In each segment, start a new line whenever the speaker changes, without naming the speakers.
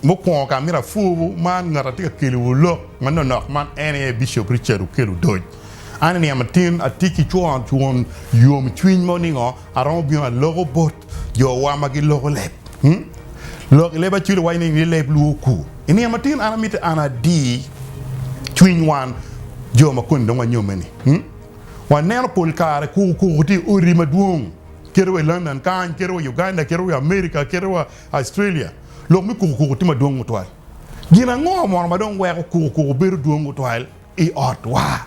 Mukwongo ka amito apwur man ngat atye ka kelowu lok ma nonok man en aye Bishop Richard Okel Odoc. An i niang matin atye ki twon yom cwiny mo ningo aromo bino aloko bot jowa ma giloko leb. Lok i leb Acoli waco ni ni leb lwor ku. I niang matin an amiti an adi cwiny wan jo ma koni dong wanyomme ni. Waneno pol kare kuku kuku tye i odi madwong kite wa i London kany, kite wa i Uganda, kite wa i America, kite wa Australia, lok me kuku kuku tye madwong tutwal. Gin ango mono ma dong weko kuku kuku bedo dwong tutwal i otwa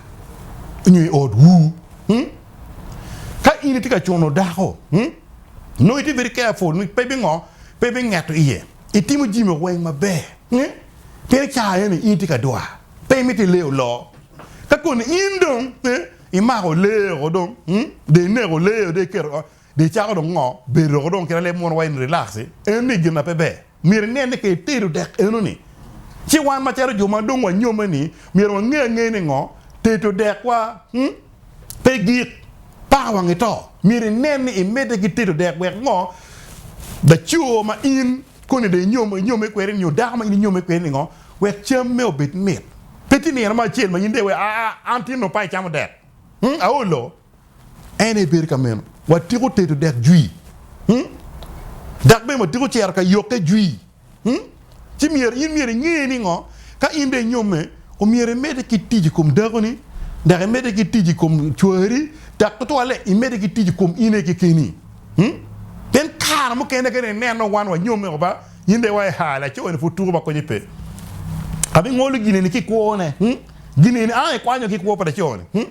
nyo i otwu? Ka in itye ka cuno dako, nongo itye very careful ni pe bingo, pe bingeto iye. Itimo jami weng maber, pien i cawa eni in itye ka dwa, pe imito i lee oloo. Ka koni in dong imako lee o dong, de ineko lee o, de iketo. Dong icako dong ngo? Be iroko dong kit aleb mono wa in relax i? Eno ni gin na pe ber. Myero ingen ni ka itedo dek eno ni ci wan macalo jo ma dong wanyomme ni myero wange angeya ni ngo? Tedo dek wa humm pe gik paka wang ito. Myero inen ni imedde ki tedo dek wek ngo? Laco ma in koni dong inyom inyomme kwede nyo dako ma in inyomme kwede ni ngo? Wek cam me obed mit. Pe tye nino mo acel ma in dong iweko aa an tinno pa icamo dek humm aolo. En aye bedo ka meno. Watyeko tedo dek jwi, dok bene watyeko cito ka yokke jwi. Ci myero in myero inge ni ngo? Ka in dong inyomme, omyero imedde ki tic i kom dakoni, dok imedde ki tic i kom cwari, dok tutwalle imedde ki tic i kom in aye kekeni. Pien kare mukene ka dong ineno wan wanyomme woko ba, in dong iwaco, Haa, laco-ni pud tuko ba konye pe. Abingolo gin eni ki kwone. Gin eni, ang ikwanyo ki kwo pa laco-ni.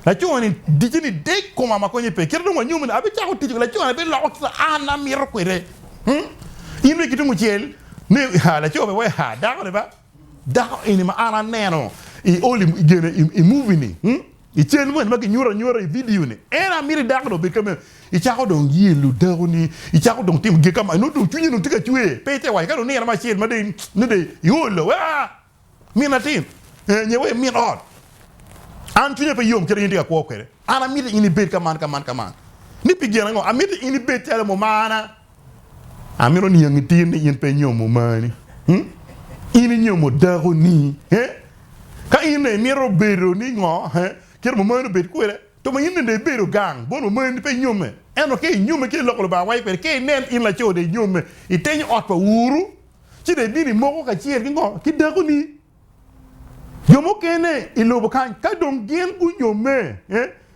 Laco ni dice ni dek koma ma konye pe kite dong wanyomo ni abicako tic laco ni abiloko kika an amito kwede in bene kitum ocel ni ha laco be wa ha dako ni ba dako eni ma an aneno i oli gene i movie ni i cal moni ma kinyuto anyuta i video ni en amito i dako ni obed kame icako dong yelo dako ni icako dong timo gin kama nongo dong cwinyi dong tye ka cwer pe ite waco ka dong nino mo acel ma dong nongo dong iolo wa Min atin, nye wa i min ot. An cwinya pe yom kit ma in itye ka kwo kwede. An amito in ibed ka man, ka man, ka man. Ni pi gin ango? Amito in ibed calo mumana. Amito niang itir ni in pe inyomo mumani. Hmm? In inyomo dakoni. He? Ka in ne imito bedo ni ngo? He? Kit mumani obed kwede. To ma in ne dong ibedo gang, bon mumani pe inyomme. Ento ka inyomme kit ma Lok pa Lubanga waco kwede, ka inen in laco dong inyomme, itenyo ot pa uru, ci dong ibino imoko kacel ki ngo? Ki dakoni. Jo mukene i lobo kany ka dong gin gunyomme,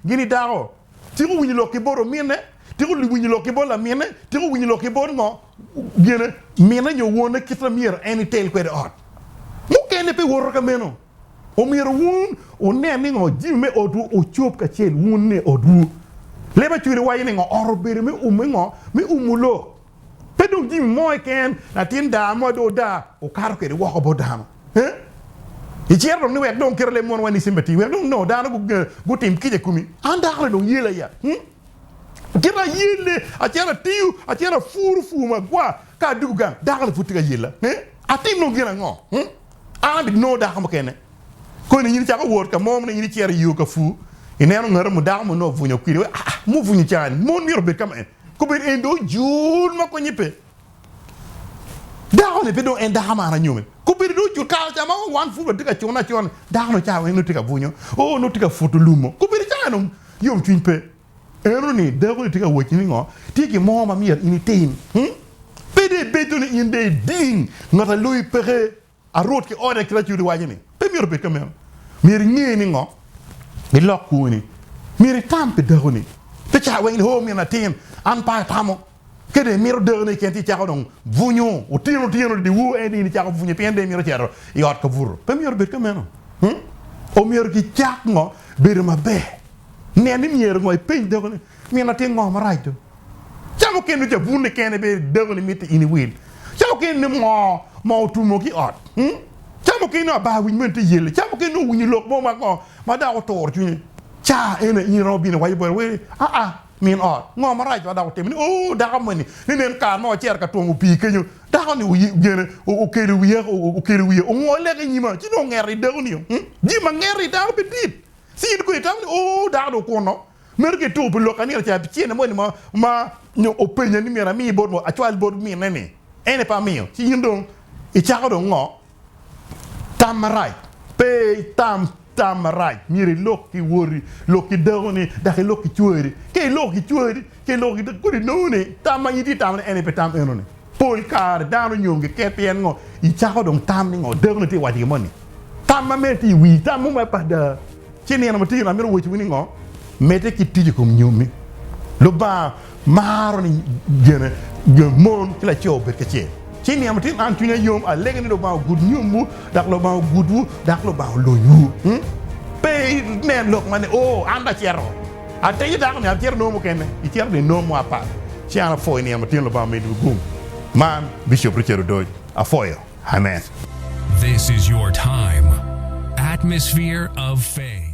gin i dako, tiko winyo lok ki bot ominne, tiko winyo lok ki bot laminne, tiko winyo lok ki bot ngo? Gine, minne nyo wonne kit ma myero en itel kwede ot. Mukene pe woto ka meno. Omyero wun wunen ni ngo? Jami me otwu ocob kacel wun ni otwu. Leb acwele waco ni ngo? Ot obedo me ume ngo? Me umo lok. Pe dong jami mo keken, latin daa mo dong odaa, okato kwede woko bot dano. Iciro dong ni wek dong kite leb monwa ni sympathy, wek dong nongo dano gutim kica i komi. An dako ni dong yel aye, kite ayelle, acito atiyo, acito apuro pur ma agwa, ka adwogo gang, dako ni pud tye ka yella. Atim dong gin ango? An abit nongo dako mukene. Koni in icako wot ka mo ni in icito iyo ka pur, ineno ngati mo dako mo nongo obwunyo kwidi, wek aa, mubwunyo caa-ni, mon myero obed ka ma en. Kobedo en dong ojur ma konye pe. Dako-ni pe dong en dako man anyome. Kobedo dong ojur kare ca ma wan pud watye ka cune acuna-ni, dako-ni ca weng nongo tye ka bunyo, o, nongo tye ka puto lumo. Kobedo ca en yomcwiny pe. Enoni dako-ni tye ka wacci ni ngo? Tye gin mo ma myero in itim. Pe dong ibedo ni in dong iling ngat a loyi peke. A Rwot ki ode kit acudi waco ni, Pe myero obed ka meno. Myero inge ni ngo, ilok kwoni. Myero itam pi dakoni. Pe ca weng ni, 'Oo, min atin, an pe atamo. Ka dong imito dakone keken ci icako dong bwunyo otyeno otyeno dyewor, en dong in icako bwunye pien dong imito cito i ot ka buto. Pe myero obed ka meno. Omyero gicak ngo bedo maber. Nen ni myero ngo ipeny dakoni, 'Min atin, ngo marac dong? Ca mukene nongo cabunne kene bene dako ni mitte in iwil. Ca mukene nongo moo ma otumo ki ot. Ca mukene nongo abar winy mene tye yelle. Ca mukene nongo owinyo lok mo ma kongo ma dok oturo cwinye. Ca eni aye in iromo bino iwaco boti wai, Aa, min ot, ngo marac ma dok wutimo ni? Oo, dako moni, ni nen kare ma wacito ka twongo pii kenyo, dako ni gene okelo wiye, okelo wiye, ongo leke i nyima, ci nongo ongeto i dako nio. Jami ma ngeto i dano pe dit. Ci in kono itamo ni, Oo, dako ni okuno, Meno ki tuko pi lok ka nino ca abicel-li moni ma, ma nyo openya ni myero ami bot ngo, acwal bot minne-ni, en aye pe amiyo, ci in dong icako dong ngo? Tam marac. Pe itam tam marac, myero ilok ki woti, lok ki dakoni, dok ilok ki cwari. Ka iloko ki cwari, ka iloko ki dakoni, kodi inongo ni tam ma in itye ka tamo-ni en aye pe tam eno-ni. Pol kare dano nyom giket pien ngo? Icako dong tam ni ngo? Dakoni tye waco gin mo ni tam ma medo tye i wii tam mo ma pe ada. Ci nino ma tino amito woco wi ni ngo? Medde ki tic i kom nyomi. Lubanga maro ni gene mon ki laco obed kacel. Ci nino ma tino an cwinya yom alego ni Lubanga ogud nyomwu dok Lubanga ogudwu dok Lubanga olonywu. Pe inen lok ma ni, Oo, an dong acito. Atenyo dako ni, Atyero nongo mukene? Ityero ni nongo mo apat? Ci an apwoyo nino ma tyen Lubanga omini wi gum man, Bishop Richard Odoc. Apwoyo. Amen.
This
is your
time.
Atmosphere
of faith.